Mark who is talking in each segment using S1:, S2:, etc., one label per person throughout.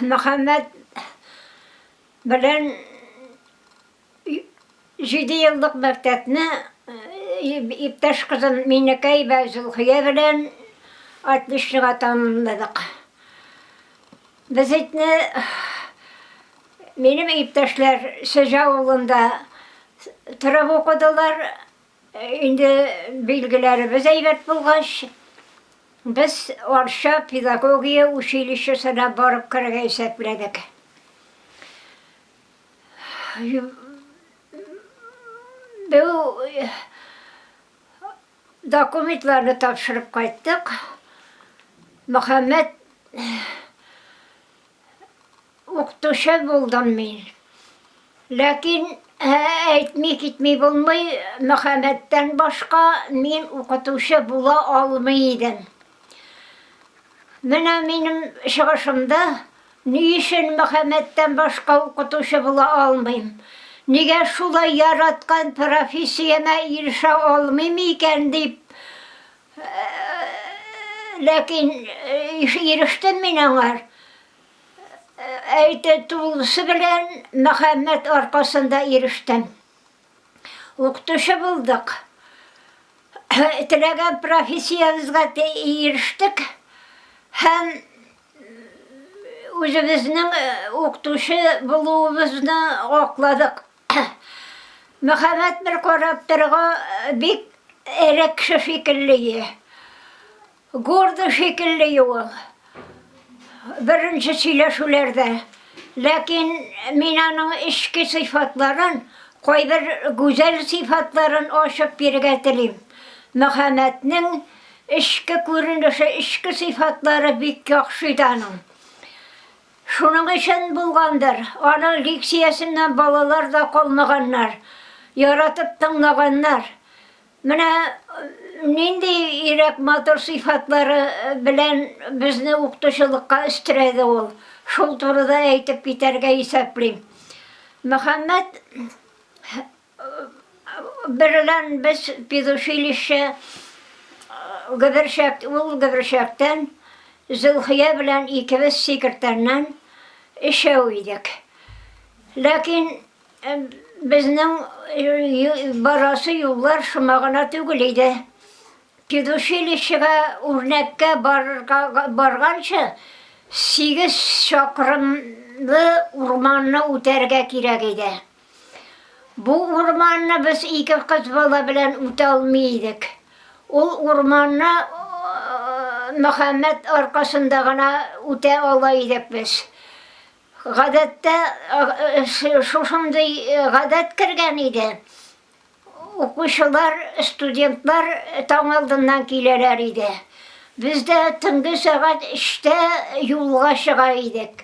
S1: Мөхәммәт белән җиде еллык мәктәпне иптәш кызым Минекәй вә Зөлхия белән отличнога тәмамладык. Без итне минем иптәшләр Сөҗә авылында торып укыдылар. Инде билгеләребез әйбәт булгач, без Арча педагогия училищесына барып керергә исәпләдек. Бу документларны тапшырып кайттык. Мөхәммәт. Укытучы булдым мин. Ләкин әйтми китми булмый, Мөхәммәттән башка мин укытучы була алмый идем. Менә минем чыгышымда ни өчен Мөхәммәттән башка укытучы була алмыйм? Нигә шулай яраткан профессиямә ирешә алмыйм икән дип Ләкин ирештем мин аңа. Әйтә тулысы белән Мөхәммәт аркасында ирештем. Укытучы булдык. Теләгән профессиябезгә ирештек һәм үзебезнең укытучы булуыбызны акладык. Мөхәммәт бер карап торырга бик эре кеше шикелле е. Горды шикелле е ул. Беренче сөйләшүләрдә. Ләкин мин аның эчке сыйфатларын, кайбер гүзәл сыйфатларын ачып бирергә телим. Мөхәммәтнең эчке күренеше, эчке сыйфатлары бик яхшы иде аның. Шуның өчен булгандыр, аның лекциясеннән балалар да калмаганнар, яратып тыңлаганнар. Менә нинди ирек, матур сыйфатлары белән безне укытучылыкка өстерәде ул, шул турыда әйтеп китәргә исәплим. Мөхәммәт Берлән без педучилище Гөберчәк, ул Гөберчәктән, Зөлхия белән икебез Сикертәннән өчәү идек. Ләкин безнең барасы юллар шома гына түгел иде. Педучилищега үрнәккә барганчы, сигез чакрымлы урманны үтәргә кирәк иде. Бу урманны без ике кыз бала белән үтә алмый идек. Ул урманны Мөхәммәт аркасында гына үтә ала идек без. Гадәттә, шушындый гадәт кергән иде, укучылар, студентлар таң алдыннан киләләр иде. Без дә төнге сәгать өчтә юлга чыга идек.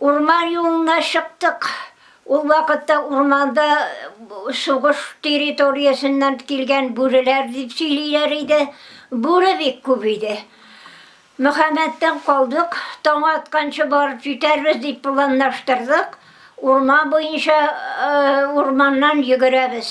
S1: Урман юлына чыктык. Ул вакытта урманда сугыш территориясеннән килгән бүреләр дип сөйлиләр иде. Бүре бик күп иде. Мөхәммәттән калдык, таң атканчы барып җитәрбез дип планлаштырдык. Урман буенча урманнан йөгерәбез.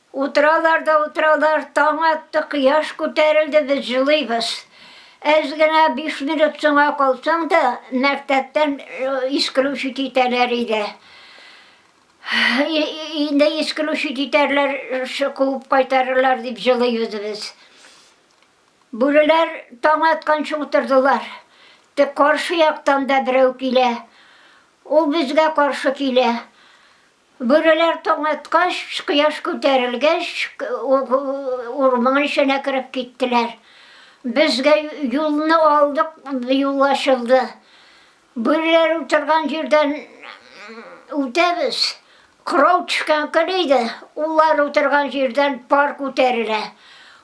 S1: Утыралар да утыралар, таң атты, кояш күтәрелде, без җылыйбыз. Әз генә биш минут соңга калсаң да, мәктәптән искрүчи китәләр иде. Инде искрүчи китәрләр, куып кайтарырлар дип җылыйбыз без. Бүреләр таң атканчы утырдылар. Тик каршы яктан да берәү килә. Ул безгә каршы килә. Бүреләр таң аткач, кояш күтәрелгәч, урман эченә кереп киттеләр. Безгә юлны алдык, юл ачылды. Бүреләр утырган җирдән үтәбез, кырау төшкән көн иде, улар утырган җирдән пар күтәрелә.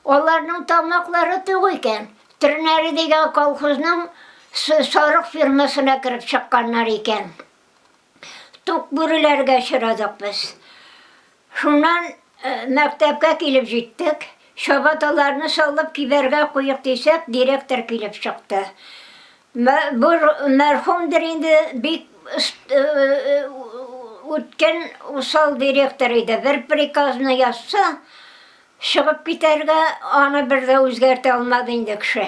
S1: Аларның тамаклары тук икән, Тернәре дигән колхозның сарык фермасына кереп чыкканнар икән. тук бүреләргә очрадык без. Шуннан э, мәктәпкә килеп җиттек. Чабаталарны салып кибәргә куйык дисәк, директор килеп чыкты. Бу мәрхүмдер инде бик э, э, үткен усал директор иде. Бер приказны язса, чыгып китәргә аны бер дә үзгәртә алмады инде кеше.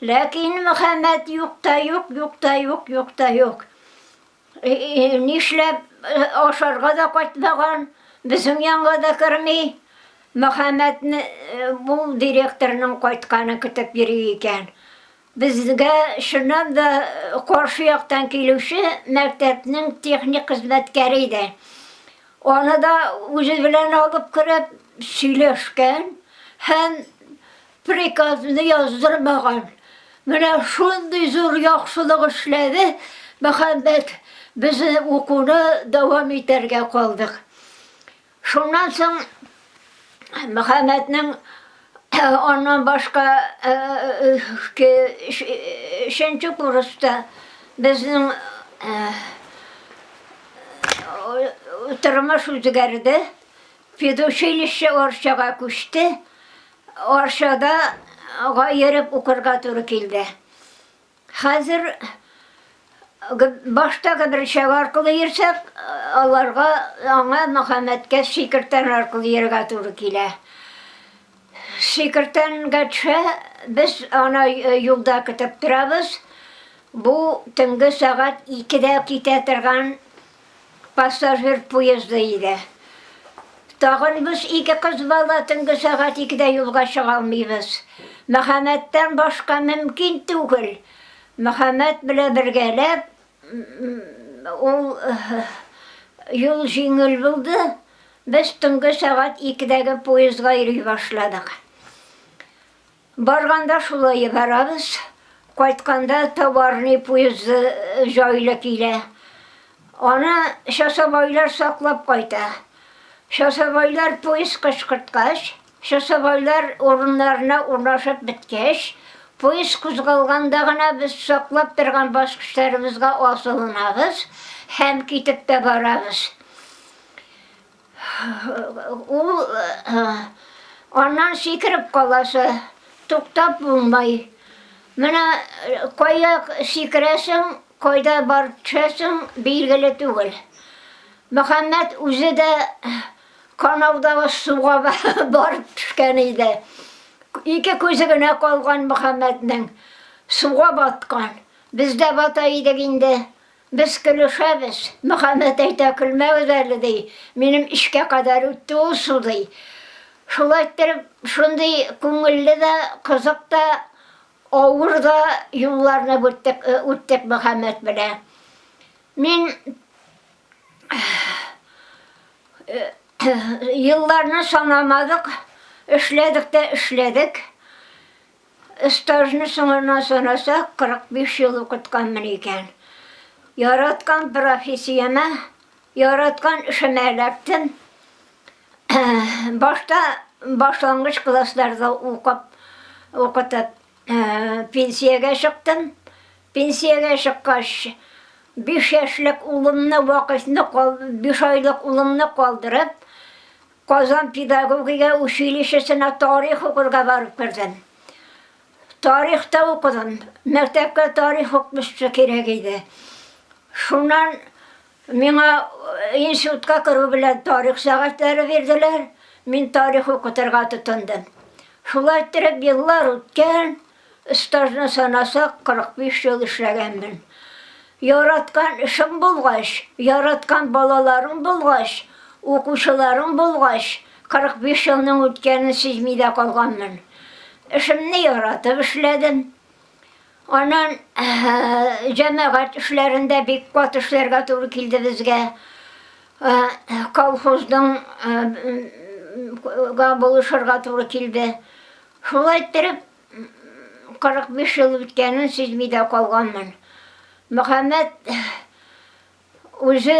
S1: Ләкин Мөхәммәд юк та юк, юк та юк, юк та юк. Нишләп ашарга да кайтмаган, безнең янга да керми. Мөхәммәдне бу директорның кайтканын көтеп йөри икән. Безгә чыннан да каршы яктан килүче мәктәпнең техник хезмәткәре иде. Аны да үзе белән алып кереп сөйләшкән һәм Приказны яздырмаган. Менә шундый зур яхшылык эшләде Мөхәммәт, без укуны дәвам итәргә калдык. Шуннан соң Мөхәммәтнең аннан башка өченче курста безнең тормыш үзгәрде. Педучилище Арчага күчте. Арчада га йөреп укырга туры килде. Хәзер башта гбрчага аркылы йөрсәк, аларга аңа Мөхәммәткә Шикертән аркылы йөрергә туры килә. Шикертәнгә төшә, без аны юлда көтеп торабыз. Бу төнге сәгать икедә китә торган Пассажир поезды иде. Тагын без ике кыз бала төнге сәгать икедә юлга чыга алмыйбыз. Мөхәммәттән башка мөмкин түгел. Мөхәммәт белән бергәләп, ул юл җиңел булды, без төнге сәгать икедәге поездга йөри башладык. Барганда шулай барабыз, кайтканда товарный поезды җайлы килә. Аны часовойлар саклап кайта. Часовойлар поезд кычкырткач, часовойлар урыннарына урнашып беткәч, поезд кузгалганда гына без саклап торган баскычларыбызга асылынабыз һәм китеп тә барабыз. Ул аннан сикереп каласы, туктап булмай. Менә кая сикерәсең, кайда барып төшәсең, билгеле түгел. Мөхәммәт үзе дә канаудагы суга барып төшкән иде. Ике күзе генә калган Мөхәммәтнең. Суга баткан. Без дә бата идек инде. Без көлешәбез. Мөхәммәт әйтә, Көлмәгез әле, ди. Минем эчкә кадәр үтте ул су, ди. Шул иттереп, шундый күңелле дә, кызык та, авыр да юлларны үттек, үттек Мөхәммәт белән. Мин елларны санамадык, эшләдек тә эшләдек. Стажны соңыннан санасак, 45 ел укытканмын икән. Яраткан профессиямә, яраткан эшемә эләктем. Башта башлангыч классларда укып, укытып, пенсиягә чыктым. Пенсиягә чыккач, биш яшьлек улымны вакыйфны, биш айлык улымны калдырып, Казан педагогия училищесына тарих укырга барып кердем. Тарих та укыдым. Мәктәпкә тарих укытучысы кирәк иде. Шуннан миңа институтка керү белән тарих сәгатьләре бирделәр. Мин тарих укытырга тотындым. Шулай иттереп еллар үткән. Стажны санасак, 45 ел эшләгәнмен. Яраткан эшең булгач, яраткан балаларың булгач, укучыларың булгач, 45 елның үткәнен сизми дә калганмын. Эшемне яратып эшләдем. Аннан җәмәгать эшләрендә бик кат эшләргә туры килде безгә. Колхозның га булышырга туры килде. Шулай иттереп, 45 ел үткәнен сизми дә калганмын. Мөхәммәт үзе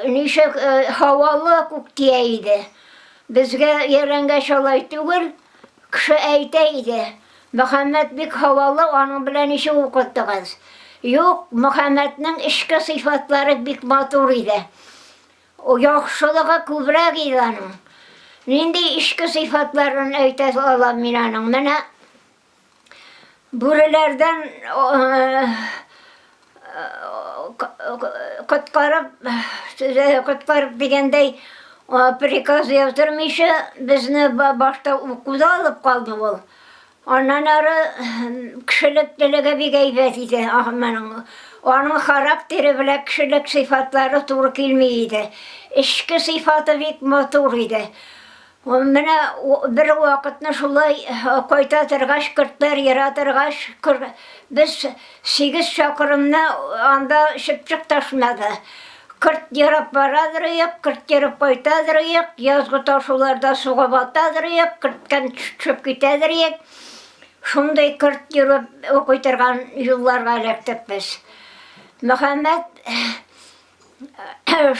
S1: ничек һавалы күк тия иде. Безгә өйрәнгәч алай түгел, кеше әйтә иде, Мөхәммәт бик һавалы, аның белән ничек укыттыгыз? Юк, Мөхәммәтнең эчке сыйфатлары бик матур иде. Яхшылыгы күбрәк иде аның. Нинди эчке сыйфатларын әйтә алам мин аның? Менә бүреләрдән коткарып, коткарып дигәндәй, приказ яздырмыйча, безне башта укуда алып калды ул. Аннан ары кешелеклелеге бик әйбәт иде Ахманың. Аның характеры белән кешелек сыйфатлары туры килми иде. Эчке сыйфаты бик матур иде. Менә бер вакытны шулай кайта торгач, көртләр ера торгач, без Сигез чакрымны анда чыпчык ташмады. Кырт ерап бара торыйк, кырт ерып кайта торыйк, язгы ташуларда суга бата торыйк, керттән төшеп китә торыйк. Шундый кырт йөреп укый торган юлларга эләктек без. Мөхәммәт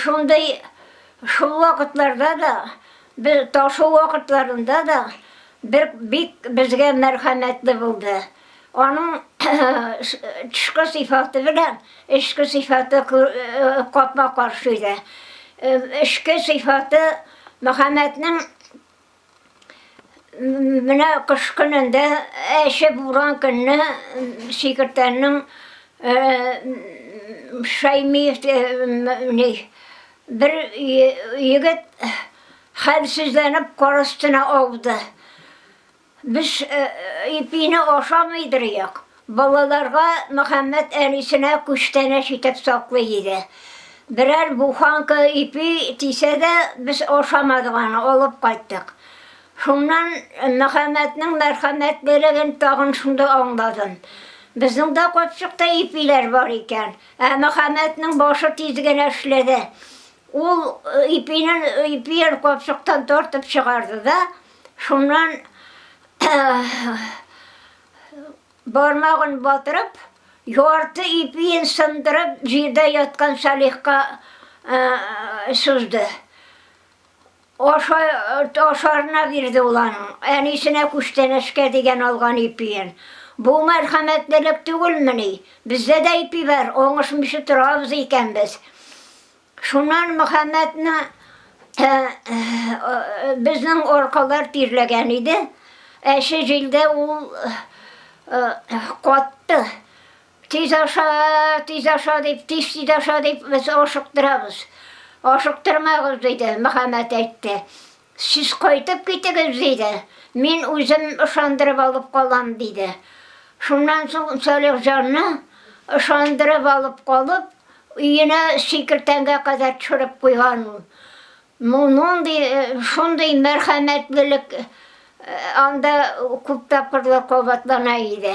S1: Шундый шул вакытларда да, без ташу вакытларында да бер бик безгә мәрхәмәтле булды. Аның тышкы сыйфаты белән эчке сыйфаты капма-каршы иде. Эчке сыйфаты Мөхәммәтнең Менә кыш көнендә әче буран көнне Шикертәннең Шәймиев бер егет хәлсезләнеп кар өстенә ауды. Без ипине ашамыйдыр як. Балаларга Мөхәммәт әнисенә күчтәнәч итеп саклый иде. Берәр буханка ипи тисә дә, без ашамадык аны, алып кайттык. Шуннан Мөхәммәтнең мәрхәмәтлелеген тагын шунда аңладым. Безнең дә капчыкта ипиләр бар икән. Ә Мөхәммәтнең башы тиз генә эшләде. Ул ипине ипиен капчыктан тартып чыгарды да, шуннан Бармагын батырып, ярты ипиен сындырып, җирдә яткан Салихка сузды. Аша, ашарына бирде ул аның, әнисенә күчтәнәчкә дигән алган ипиен. Бу мәрхәмәтлелек түгелмени? Бездә дә ипи бар, оңышмыйча торабыз икән без. Шуннан Мөхәммәтне безнең аркалар тирләгән иде. Әче җилдә ул катты. Тиз аша, тиз аша дип, тиз тиз аша дип, без ашыктырабыз. Ашыктырмагыз, диде, Мөхәммәт әйтте. Сез кайтып китегез, диде. Мин үзем ышандырып алып калам, диде. Шуннан соң Салихҗанны ышандырып алып калып, өенә сикертәнгә кадәр төшереп куйган ул. Мондый, шундый мәрхәмәтлелек анда күп тапкырлар кабатлана иде.